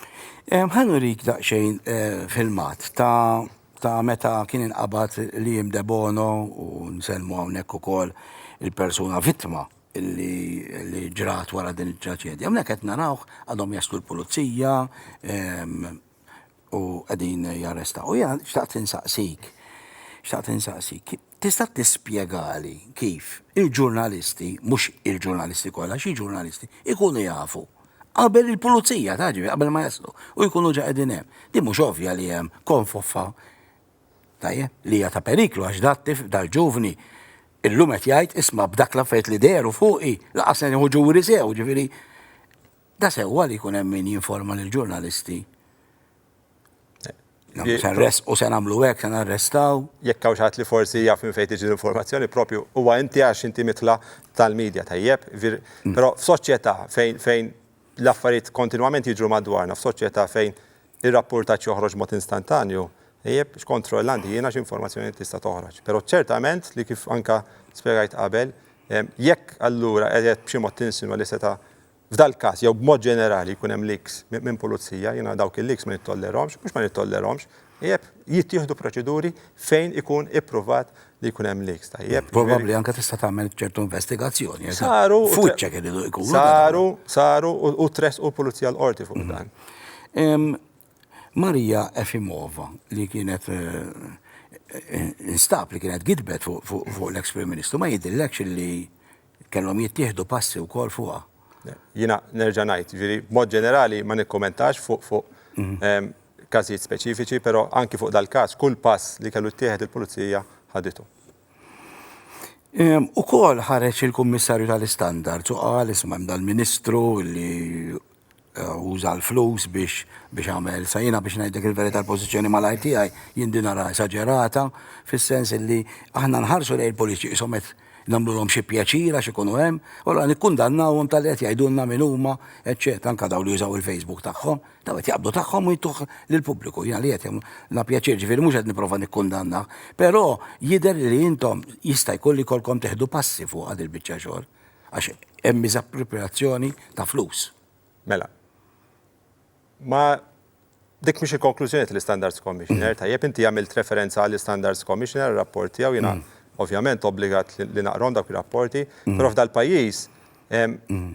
Ħa nurik daqsxejn filmat ta' ta' meta kien inqabad Liam Debono u nsellmu hawnhekk ukoll il-persuna vittma li ġrat wara din it-traċedja. Hawnhekk qed narawh għadhom jaslu l-pulizija u qegħdin jarrestaw. U xtaqt insaqsik, xtaqt insaqsik, Tista' tispjegali kif il-ġurnalisti, mhux il-ġurnalisti kollha, xi ġurnalisti, ikunu jafu qabel il-pulizija ta' ġifi qabel ma jaslu u jkunu ġa qegħdin hemm. Din mhux ovvja li hemm konfoffa tajjeb li hija ta' periklu għax dat tif dal-ġuvni illum qed jgħid isma' b'dak l-affarijiet li dehru fuqi laqas se nieħu ġuri sew, ġifieri da sewwa li jkun hemm min jinforma lill-ġurnalisti Sarres u se nagħmlu hekk, se narrestaw. Jekk hawn xaħat li forsi jaf minn fejn tiġi l-informazzjoni propju huwa inti għax inti mitla tal-medja tajjeb, mm. però f'soċjetà fejn fejn l-affarijiet kontinwament jiġru madwarna, f'soċjetà fejn ir-rapportaġġ joħroġ mod instantanju, jeb x'kontroll għandi jiena x'informazzjoni tista' toħroġ. Però ċertament li kif anka spjegajt qabel, jekk allura qed b'xi mod tinsinwa li seta' F'dal-każ, jew b'mod ġenerali, jkun hemm leaks minn pulizija, jiena dawk il-leaks ma nittollerahomx, mhux ma nittollerahomx, tajjeb, jittieħdu proċeduri fejn ikun ippruvat li jkun hemm leaks, tajjeb. Probabbli anke tista' tagħmel ċertu investigazzjoni, għax dan foot check iridu jkunu. Saru, saru u tressqu l-pulizija l-Qorti fuq dan. Maria Efimova, li kienet instab li kienet gidbet fuq l-eks Prim Ministru, ma jidhirlekx li Kellhom jittieħdu passi wkoll fuqha. Jiena nerġa' ngħid, jiġifieri b'mod ġenerali ma nikkumentax fuq fuq każijiet speċifiċi, però anki fuq dal-każ kull pass li kellu jittieħed il-Pulizija ħaditu. Ukoll ħareġ il-Kummissarju tal-Istandards u qal isma' hemm dal-Ministru li uża l-flus biex biex għamel. Sa jiena biex ngħidlek il-verità l-pożizzjoni malajr tiegħi jien din nara esaġerata fis-sens illi aħna nħarsu lejn il-politiċi qishom qed nagħmlulhom xi pjaċir għax ikunu hemm, u allura nikkundannawhom talli qed jgħidulna min huma, eċċetera, anke dawn li jużaw il-Facebook tagħhom, dawn qed jaqbdu tagħhom u jtuh lill-pubbliku. Jiena li qed jagħmlulna pjaċir, ġifieri mhux qed nipprova nikkundannah, però jidher li intom jista' jkun li jkollkom teħdu passi fuqha dil-biċċa xogħol. Għax hemm miżappropriazzjoni ta' flus. Mela. Ma dik mhix il-konklużjoni tal-Standards Commissioner, tajjeb inti għamilt referenza għall-Standards Commissioner rapport tiegħu jiena mm. ovvjament obbligat li naqrom dawk ir-rapporti, mm. però f'dal pajjiż mm.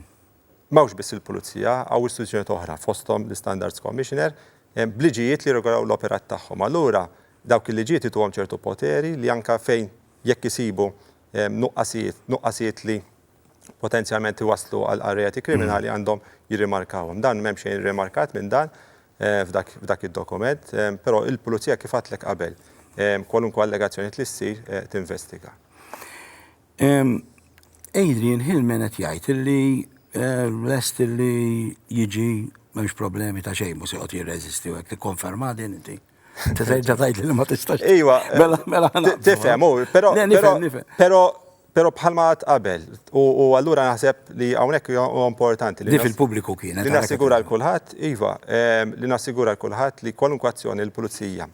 mawx biss il-pulizija għaw istituzzjoni oħra fosthom l-Standards Commissioner bliġijiet li regolaw l-operat tagħhom. Allura dawk il-liġijiet ituhom ċertu poteri li anka fejn jekk isibu nuqqasijiet, nuqqasijiet li potenzjalment iwasslu għal reati kriminali għandhom jirrimarkawhom. Dan m'hemm xejn irrimarkat minn dan f'dak id-dokument, però il-Pulizija kif għadtlek qabel, kwalunkwe allegazzjonijiet li ssir tinvestiga. Adrian Hillman qed jgħid illi lest illi jiġi m'hemmx problemi ta' xejn, mhux se joqgħod jirreżisti u hekk, tikkonfermaha din inti? Inti terġa' tgħid li ma tistax. Iwa, mela mela tifhem, però però Pero bħalma għad qabel, u allura naħseb li hawnhekk huwa importanti li. Dif il-pubbliku kien. Li nassigura l-kulħadd, iva, ehm, li nassigura l-kulħadd li kwalunkwe azzjoni l-pulizija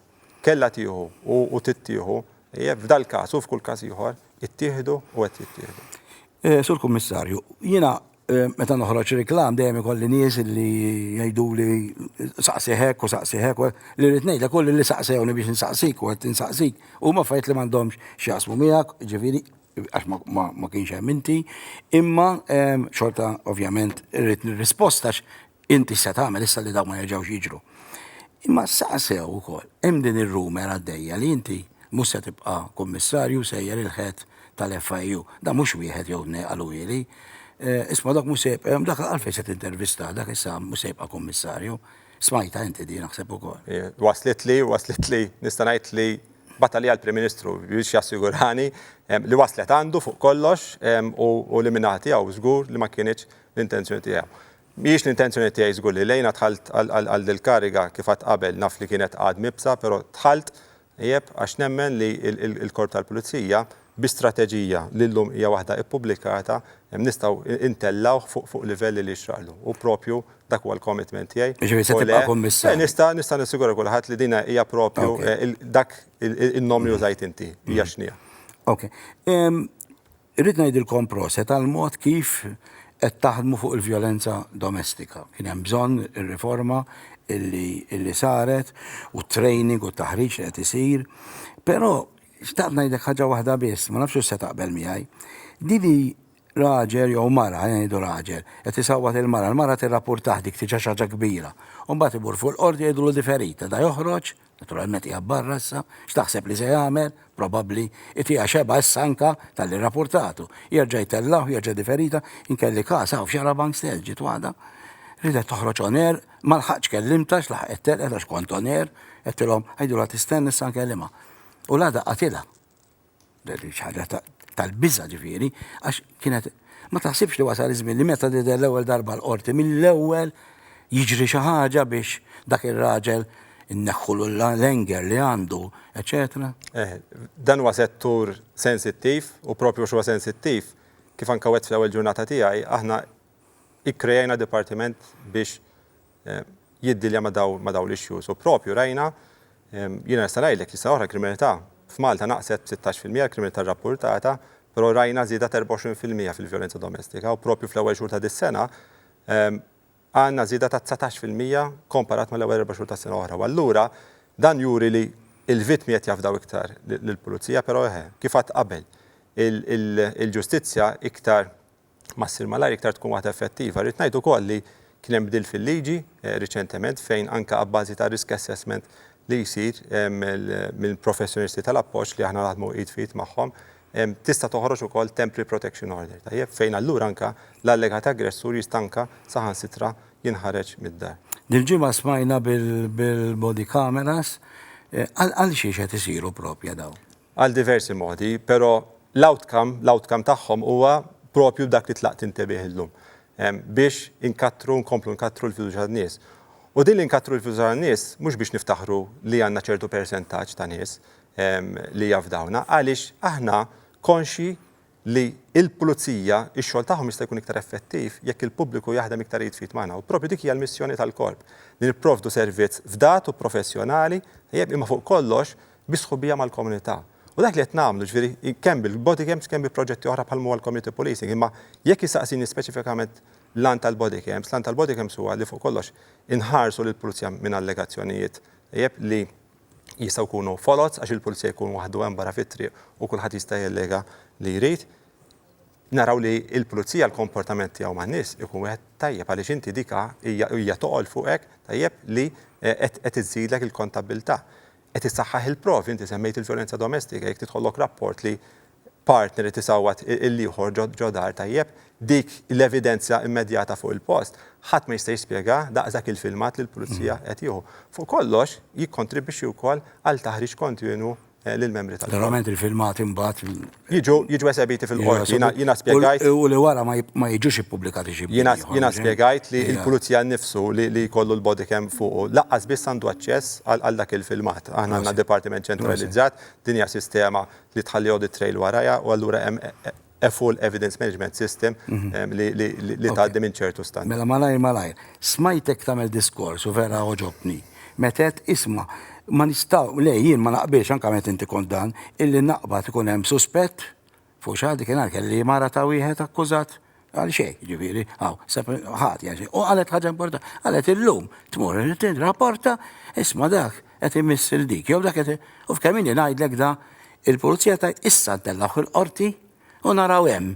kella tieħu u tittieħu, eh, f'dal każ u f'kull każ ieħor, ittieħdu u qed jittieħdu. Eh, Sur Kummissarju, jiena Meta noħroġ reklam dejjem ikolli nies li jgħiduli saqsi hekk u saqsi hekk li rrid ngħidlek u li saqsewni biex insaqsik u qed insaqsik huma affarijiet li m'għandhomx x'jaqsmu miegħek, ġifieri għax ma kienx hemm inti, imma xorta ovvjament irrid nirrisposta Inti x'se tagħmel issa li dawn ma jerġgħux jiġru? Imma saqsew ukoll, hemm din ir-rumer għaddejja li inti mhux se tibqa' Kummissarju sejjer il-Head tal-FIU. Dan mhux wieħed jew tnejn qaluhieli. Isma' dak mhux se jibqa' hemm, dak għalfejn se tintervistah, dak issa mhux se jibqa' Kummissarju. Smajtha inti din naħseb ukoll. Waslitli, waslitli, nista' ngħid li bagħat għalija l-Prim Ministru biex jassigurani li waslet għandu fuq kollox u li min-naħa tiegħu żgur li ma kinitx l-intenzjoni tiegħu. Mhijiex l-intenzjoni tiegħi żgur li lejna dħalt għal dil-kariga kif għadt qabel, naf li kienet għad mibsa però dħalt, tajjeb, għax nemmen li l-Korp tal-Pulizija bi strateġija li llum hija waħda ppubblikata nistgħu ntellgħuh fuq livell li jixraqlu u proprju dak huwa l-commitment tiegħi. Jiġifieri se tibqa' Kummissarju. Nista' nista' nassigura kulħadd li din hija proprju dak in-nom li użajt inti hija x'inhiha. Ok. Irrid ngħidilkom proset għall-mod kif qed taħdmu fuq il-vjolenza domestika. Kien hemm bżonn ir-riforma li saret u t-training u t-taħriġ li qed isir. Però xtaqt ngħidlek ħaġa waħda biss, ma nafx hux se taqbel miegħi. Din hi raġel jew mara, ħalli ngħidu raġel, qed isawwat il-mara, il-mara tirrapurtah dik tiġa xi ħaġa kbira. U mbagħad imur fuq il-qorti jgħidulu di ferita, da joħroġ, Naturalment qiegħed barra issa. X'taħseb li se jagħmel? Probabbli itiha xebgħa issa anka talli rapurtatu. Jerġa' jtellgħu, jerġa' diferita, inkelli każ hawn f'Xara Bankstel ġiet waħda. Ridet toħroġ on air, ma lħaqtx kellimta x'laħqet telqet għax kont on air, għedtilhom għidulha tistenna issa nkellimha. U l-għada qatilha. ħaġa tal-biża' ġifieri, għax kienet ma taħsibx li wasal iż-żmien li meta tidher l-ewwel darba l-qorti mill-ewwel jiġri xi ħaġa biex dak ir-raġel inneħħulu l-anger li għandu, eċċetera. Eh, dan huwa settur sensittiv u propju għax huwa sensittiv, kif anke wgħedt fl-ewwel ġurnata tiegħi, aħna ikkrejajna dipartiment biex jiddilja ma' dawn ma' dawn l-issues. U proprju rajna, jiena nista' ngħidlek li s-sena l-oħra l-kriminalità f'Malta naqset b'sittax fil-mija, l-kriminalità rrappurtata, però rajna żieda ta' erbgħa u għoxrin fil-mija fil-vjolenza domestika u proprju fl-ewwel xhur ta' dis-sena għandna żieda ta' dsatax fil-mija komparat mal-ewwel erba' xhur tas-sena l-oħra. U allura dan juri li l-vittmi qed jafdaw iktar lill-pulizija, però eħe, kif għadt qabel, il-ġustizzja iktar ma ssir malajr iktar tkun waħda effettiva. Rrid ngħid ukoll li kien hemm bdil fil-liġi riċentement fejn anke abbażi tar-risk assessment li jsir minn professjonisti tal-appoġġ li aħna naħdmu id f'id magħhom tista' toħroġ ukoll temporary protection order tajjeb fejn allura anke l-allegat aggressur jista' anke saħansitra jinħareġ mid-dar. Dil-ġimgħa smajna bil-body cameras. Għalxiex qed isiru proprja dawn? għal diversi modi, pero l-outcome, l-outcome tagħhom huwa propju dak li tlaqt inte bih illum, biex inkattru, nkomplu nkattru l-fiduċja tan-nies. U din li nkattru l-fiduċja tan-nies mhux biex niftaħru li għandna ċertu persentaġġ ta' nies li jafdawna, għaliex aħna konxji li l-pulizija, ix-xogħol tagħhom jista' jkun iktar effettiv jekk il-pubbliku jaħdem iktar id f'id magħna u proprju dik hija l-missjoni tal-Korp, li nipprovdu servizz fdat u professjonali, tajjeb, imma fuq kollox bi sħubija mal-komunità. U dak li qed nagħmlu, ġifieri, kemm bil-bodycams kemm bi proġetti oħra bħal m'huwa l-community policing, imma jekk issaqsini speċifikament l-għan tal-bodycams, l-għan tal-bodycams huwa li fuq kollox inħarsu lill-pulizija minn allegazzjonijiet, tajjeb, li jistgħu jkunu foloz għax il-pulizija jkun waħdu hemm barra fit-triq u kulħadd jista' jallega li jrid, naraw li l-pulizija l-komportament tiegħu man-nies ikun wieħed tajjeb għaliex inti dik hija toqgħol fuqek tajjeb li qed iżżidlek il-kontabbiltà. Qed issaħħaħ il-provi, inti semmejt il-vjolenza domestika, jekk tidħollok rapport li partner irid isawwat il-ieħor ġo dar tajjeb, dik l-evidenzja immedjata fuq il-post, ħadd ma jista' jispjega daqs dak il-filmat li l-Pulizija qed jieħu. Fuq kollox, jikkontribwixxi wkoll għal taħriġ kontinwu lill-membri tal-Korp. Verament il-filmati imbagħad. Jiġu, jiġu esebiti fil-Qorti. Jiena, jiena spjegajt. U li wara ma, ma jiġux ippubblikati xi. Jiena, jiena spjegajt li l-Pulizija nnifsu li, li jkollu l-body cam fuqu, lanqas biss għandu aċċess għal, għal dak il-filmat. Aħna għandna dipartiment ċentralizzat, din hija sistema li tħalli audit trail warajha u allura hemm a full evidence management system li tgħaddi minn ċertu standards. Mela malajr malajr, smajtek tagħmel diskors u vera għoġobtni meta għedt isma' ma nistgħu, le jien ma naqbilx anke meta inti kont dan, illi naqbad ikun hemm suspett fuq xi ħadd, dik in-nhar kelli mara ta' wieħed akkużat, Għal xej, ġifiri, għaw, ħati għal xej. U għalet ħagġa importanti, għalet il-lum, tmur, rapporta, isma dak, għet imiss il-dik, jow dak għet, u f'kemin li najdlek da, il-pulizija ta' issa tellaħ il-qorti u naraw hemm.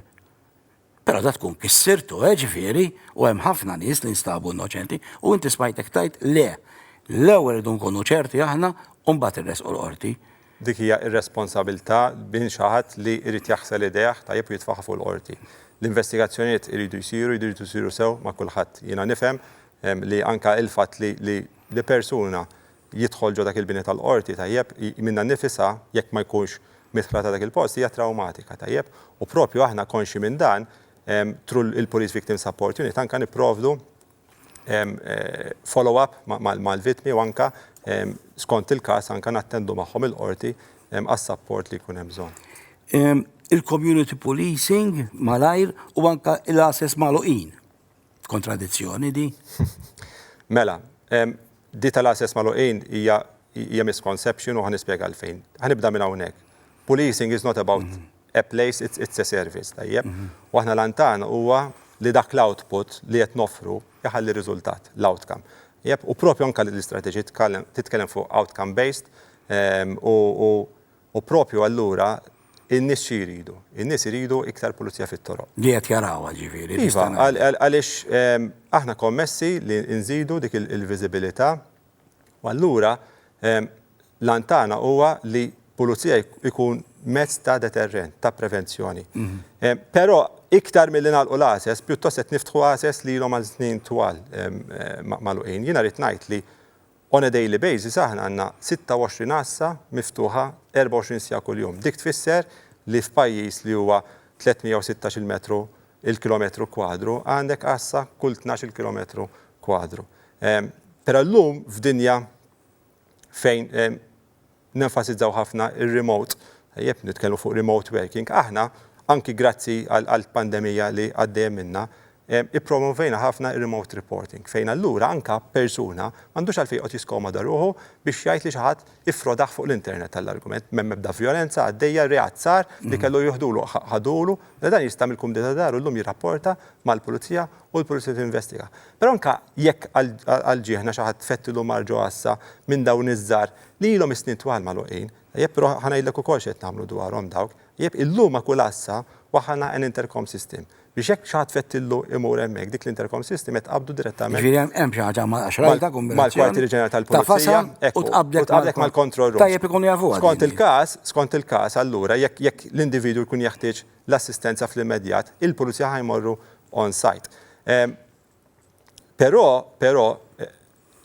Pero da tkun kissirtu, eh, ġifiri, u hemm ħafna nies li nstabu innoċenti, u inti smajtek tajt le, l-ewwel idu nkunu ċerti aħna u mbagħad irresqu l-qorti. Dik hija irresponsabilità minn xi ħadd li jrid jaħsel idejh tajjeb u jitfagħha fuq il-Qorti. L-investigazzjonijiet iridu jsiru, jridu jsiru sew ma' kulħadd. Jiena nifhem li anke il-fatt li li persuna jidħol ġo dak il-bini tal-Qorti, tajjeb, minnha nnifisha, jekk ma jkunx midħla ta' dak il-post, hija trawmatika, tajjeb, u proprju aħna konxji minn dan, through il-Police Victim Support Unit, anke nipprovdu follow-up mal-vittmi u anke skont il-każ anke nattendu magħhom il-qorti għas-sapport li jkun hemm bżonn. Il-community policing malajr u anke l-għases magħluqin. Kontradizzjoni di? Mela, di tal-għases magħluqin hija misconception u ħa nispjega għalfejn. Ħa nibda minn hawnhekk. Policing is not about A place, it's a service, tajjeb? U aħna l-għan tagħna huwa li dak l-output li qed noffru jħalli riżultat, l-outcome. Tajjeb? U proprju anke l-istrateġija titkellem fuq outcome based u proprju allura in-nies xi jridu? In-nies iridu iktar pulizija fit-toroq. Li qed jarawha, ġifieri. Iva, għaliex aħna kommessi li nżidu dik il-viżibilità. U allura l-għan tagħna huwa li pulizija jkun mezz ta' deterrent, ta' prevenzjoni. Però iktar milli nagħlqu l-għases, pjuttost qed niftħu għases li ilhom għal snin twal magħluqin. Jiena rrid ngħid li on a daily basis aħna għandna 26 għassa miftuħa 24 siegħa kuljum. Dik tfisser li f'pajjiż li huwa 316-il metru il-kilometru kwadru, għandek għassa kull tnax-il kilometru kwadru. Però llum f'dinja fejn nenfasizzaw ħafna r-remote, tajjeb, nitkellmu fuq remote working, aħna, anki grazzi għall-pandemija li għaddejja minnha, ippromovejna ħafna r-remote reporting, fejn allura anke persuna m'għandux għalfejn joqgħod jiskomoda ruħu biex jgħid li xi ħadd iffrodah fuq l-internet għall-argument, m'hemm ebda vjolenza għaddejja, reat sar li kellu jieħdulu ħadulu, mela dan jista' mill-kumdita ta' daru llum jirrapporta mal-pulizija u l-pulizija tinvestiga. Però anke jekk għal ġieħna xi ħadd fettilu mar ġo għassa minn dawn iż-żgħar li ilhom is-snin twal magħluqin, tajjeb però ħa ngħidlek ukoll x'qed nagħmlu dwarhom dawk, tajjeb illum ma' kull għassa waħħalna an intercom system, Biex hekk xi ħadd fettillu imur hemmhekk, dik l-intercom system qed tqabbdu direttament. Jiġifieri hemm hemm xi ħaġa ma' xrajja ta' kummerċ. Mal-Kwartieri Ġenerali tal-Pulizija. Ekku. U tqabbdek mal-control room. Tajjeb ikunu jafuha. Skont il-każ, skont il-każ allura jekk jekk l-individwu jkun jeħtieġ l-assistenza fl-immedjat, il-Pulizija ħa jmorru on site. Però, però,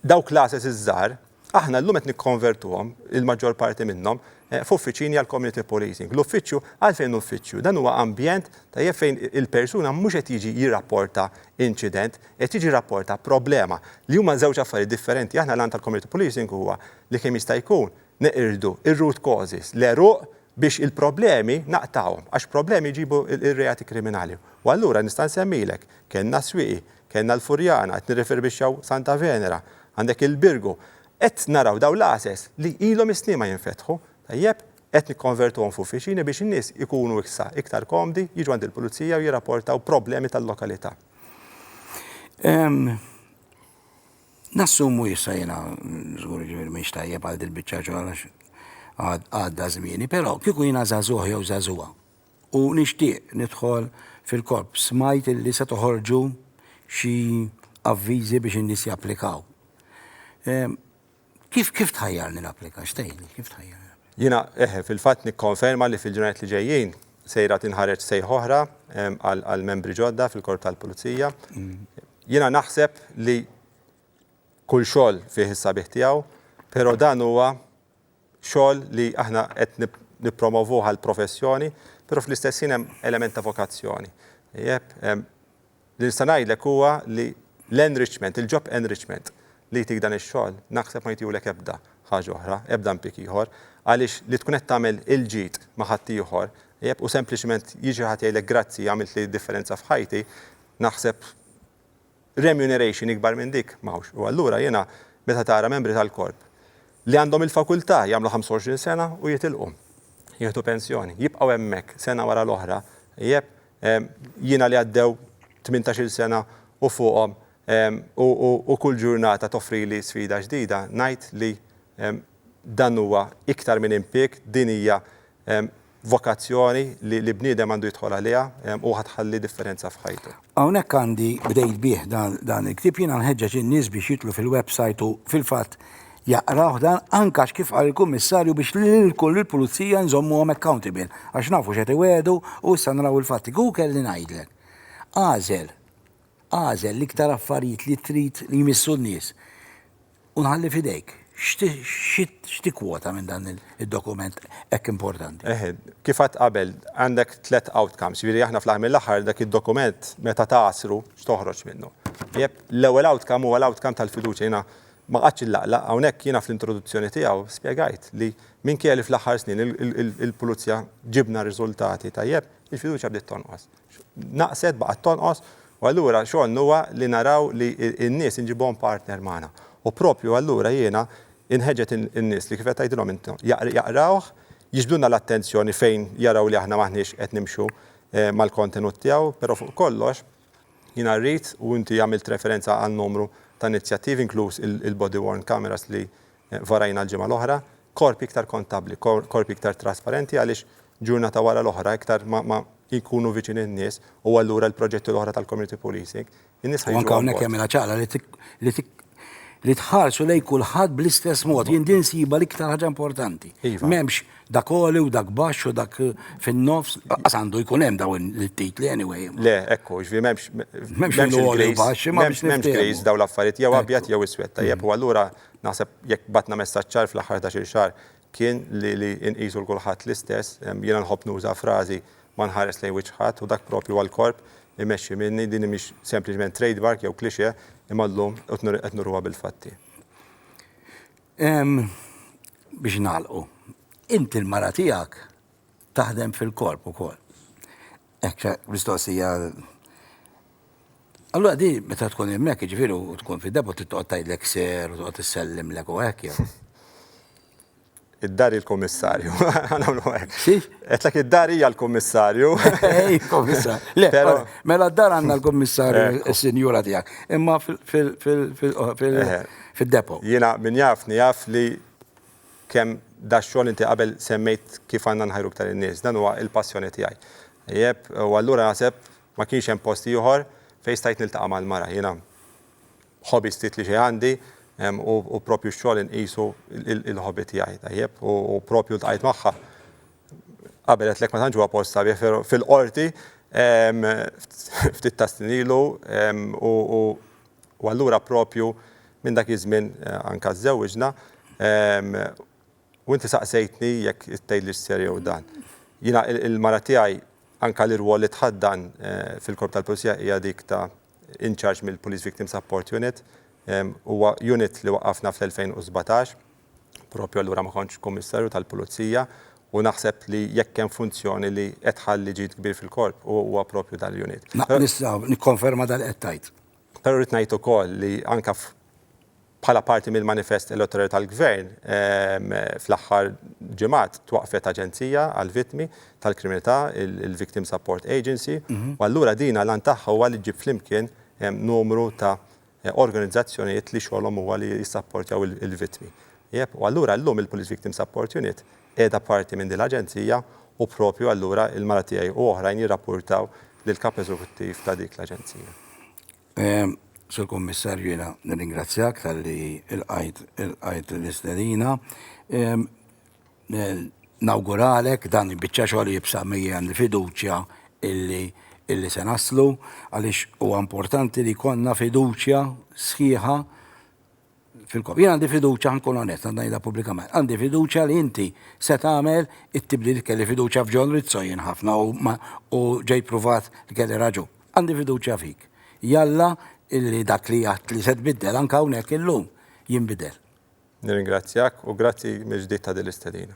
dawk l-għases iż-żgħar, aħna llum qed nikkonvertuhom, il-maġġor parti minnhom, f'uffiċini għall-community policing. L-uffiċċju, għalfejn uffiċċju? Dan huwa ambjent tajjeb fejn il-persuna mhux qed jiġi jirrapporta inċident, qed jiġi jirrapporta problema, li huma żewġ affarijiet differenti. Aħna l-għan tal-community policing huwa li kemm jista' jkun Neqirdu r-root causes, l-għeruq biex il-problemi naqtgħuhom, għax problemi jġibu r-reati kriminali. U allura nista' nsemmilek, kellna s-Swieqi, kellna l-Furjana, qed nirrifirbixxaw Santa Venera, għandek il-Birgu. Qed naraw dawn l-għases li ilhom is-snin ma jinfetħu, tajjeb, qed nikkonvertuhom f'uffiċini biex in-nies ikunu issa iktar komdi, jiġu għand il-pulizija u jirrapportaw problemi tal-lokalità. Nassumu issa jiena żgur ġifieri mhix tajjeb għal dil-biċċa xogħol għax għadda żmieni, però kieku jiena żagħżugħ jew żagħżugħa u nixtieq nidħol fil-korp, smajt illi se toħorġu xi avviżi biex in-nies japplikaw. Ehm, kif kif tħajjarni napplika? X'tgħidli? Kif tħajjarni? Jiena eħe fil-fatt nikkonferma li fil-ġurnat li ġejjin sejra tinħareġ sejħ oħra ehm, għal membri ġodda fil-korp tal-pulizija. Mm. Jiena naħseb li kull xogħol fih is-sabiħ tiegħu, però dan huwa xogħol li aħna qed nippromovuh għall-professjoni, però fl-istess ħin hemm element ta' vokazzjoni. Jep, li nista' ngħidlek huwa li l-enrichment, il-job enrichment li jtik dan ix-xogħol, naħseb ma jtiulek ebda ħaġa oħra, ebda impjieg ieħor, għaliex li tkun qed tagħmel il-ġid ma' ħaddieħor, jep, u sempliċement jiġi xi ħadd jgħidlek grazzi għamiltli differenza f'ħajti, naħseb remuneration ikbar minn dik m'hawnx. U allura jiena meta tara membri tal-Korp li għandhom il-fakultà jagħmlu 25 sena u jitilqu, jieħdu pensjoni, jibqgħu hemmhekk sena wara l-oħra, ijeb, jiena li għaddew tmintax-il sena u fuqhom u kull ġurnata toffrili sfida ġdida, ngħid li dan huwa iktar minn impieg, din hija Vokazzjoni li bniedem għandu jidħol għaliha u ħa tħalli differenza f'ħajtu. Hawnhekk għandi, bdejt bih dan il-ktieb, jiena nħeġġeġ in-nies biex jidħlu fil-websajt u fil-fatt jaqrawh dan, anke għax kif qal il-Kummissarju biex lill-Pulizija nżommuhom accountable, għax nafu x'qed iwegħdu u issa naraw il-fatti. Kieku kelli ngħidlek, agħżel, agħżel l-iktar affarijiet li trid li jmissu n-nies, U nħalli f'idejk, x'tikkwota minn dan id-dokument hekk importanti? Eħe, kif għedt qabel, għandek tliet outcomes, jiġifieri aħna fl-aħħar mill-aħħar dak id-dokument meta tagħasru x'toħroġ minnu. Tajjeb, l-ewwel outcome huwa l-outcome tal-fiduċja. Jiena ma qgħadtx inlaqlaq, hawnhekk jiena fl-introduzzjoni tiegħu spjegajt li minkejja li fl-aħħar snin il-pulizija ġibna riżultati tajjeb, il-fiduċja bdiet tonqos. naqset, baqgħet tonqos, u allura xogħolna huwa li naraw li n-nies inġibuhom partner magħna. U proprju allura jiena inħeġġeġ in-nies li kif qed tgħidilhom int, jaqrawh, jiġbdulna l-attenzjoni fejn jaraw li aħna m'aħniex qed nimxu mal-kontenut tiegħu, però fuq kollox jiena rrid, u inti għamilt referenza għal numru ta' inizjattivi inkluż il-body worn cameras li Varajna l-ġimgħa l-oħra, korpi iktar kontabbli, korpi iktar trasparenti għaliex ġurnata wara l-oħra iktar ma jkunu viċin in-nies u allura l-proġetti l-oħra tal-community policing, in-nies ħa jiġu. U anke hawnhekk jagħmilha ċara li tħarsu lejn kulħadd bl-istess mod. Jien din nsibha l-iktar ħaġa importanti. M'hemmx dak għoli u dak baxx u dak fin-nofs, lanqas għandu jkun hemm dawn it-titli anyway. Le, ekku, ġifieri m'hemmx. M'hemmx għoli u baxx, m'hemmx. M'hemmx griż dawn l-affarijiet, jew abjad jew iswed, tajjeb, u allura. Naħseb jekk bagħtna messaġġ ċar fl-aħħar ħdax-il xahar kien li li nqisu 'l kulħadd l-istess. Jiena nħobb nuża frażi ma nħares lejn wiċċ ħadd u dak proprju għall-korp imexxi minni. Din mhix sempliċement trademark jew cliché imma llum qed nuruha bil-fatti. Biex nagħlqu, inti l-mara tiegħek taħdem fil-korp ukoll. Ekk mistoqsija. Allura di meta tkun hemmhekk jiġifieri u tkun fid-depot trid toqgħod tgħidlek ser u toqgħod issellimlek u hekk jew? Id-dar il-kummissarju. Nagħmlu hekk. Xiex? Qedlek id-dar hija l-kummissarju. Ej, kummissarju. Le, mela d-dar għandna l-kummissarju is-sinjura tiegħek. Imma fil-depot. Jiena min jafni jaf li kemm dax-xogħol inti qabel semmejt kif għandna nħajru iktar in-nies. Dan huwa il-passjoni tiegħi. Tajjeb, u allura naħseb ma kienx hemm post ieħor fejn stajt niltaqa' mal-mara. Jiena hobby stret li xejn għandi, u proprju x-xogħol inqisu l-hobby tiegħi, tajjeb, u proprju ltqajt magħha, qabel għedtlek ma tantx huwa post sabiħ, però fil-Qorti, ftit tas-snin ilu, u U allura proprju minn dak iż-żmien anke żżewwiġna u inti saqsejtni jekk tgħidlix ser jew dan. Jiena il-mara tiegħi anke l-irwol li tħaddan fil-Korp tal-Pulizija hija dik ta' in charge mill-Police Victim Support Unit. Huwa unit li waqqafna fl-2017, proprju allura ma kontx Kummissarju tal-Pulizija u naħseb li jekk hemm funzjoni li qed tħalli ġid kbir fil-Korp huwa proprju dan l-unit. Nista' nikkonferma dak li qed tgħid. Però rrid ngħid ukoll li anke bħala parti mill-manifest elettorali tal-Gvern, fl-aħħar ġimgħat twaqqfet aġenzija għall-vittmi tal-kriminalità, il-Victim Support Agency, u allura din l-għan tagħha huwa li ġġib flimkien numru ta' organizzazzjonijiet li xogħolhom huwa li jissapportjaw il-vittmi. U allura llum il-Police Victim Support Unit qiegħda parti minn din l-aġenzija u proprju allura il-mara tiegħi u oħrajn jirrappurtaw lill-Kap Eżekuttiv ta' dik l-aġenzija. Sur Kummissarju, jiena nirringrazzjak talli lqajt ilqajt l-istedina. Nawguralek dan il-biċċa xogħol jibsa' miegħi għandi fiduċja illi illi se naslu għaliex huwa importanti li jkollna fiduċja sħiħa fil-kop. Jien għandi fiduċa nkun onest għandha jidha pubblikament. Għandi fiduċa li inti se tagħmel it-tibli li kelli fiduċa f'John Rizzo jien ħafna u ġej pruvat li kelli raġu. Għandi fiduċa fik. Jalla illi dak li għat li se tbiddel anke hawnhekk illum jinbidel. Nirringrazzjak u grazzi mill-ġdid ta' din l-istedina.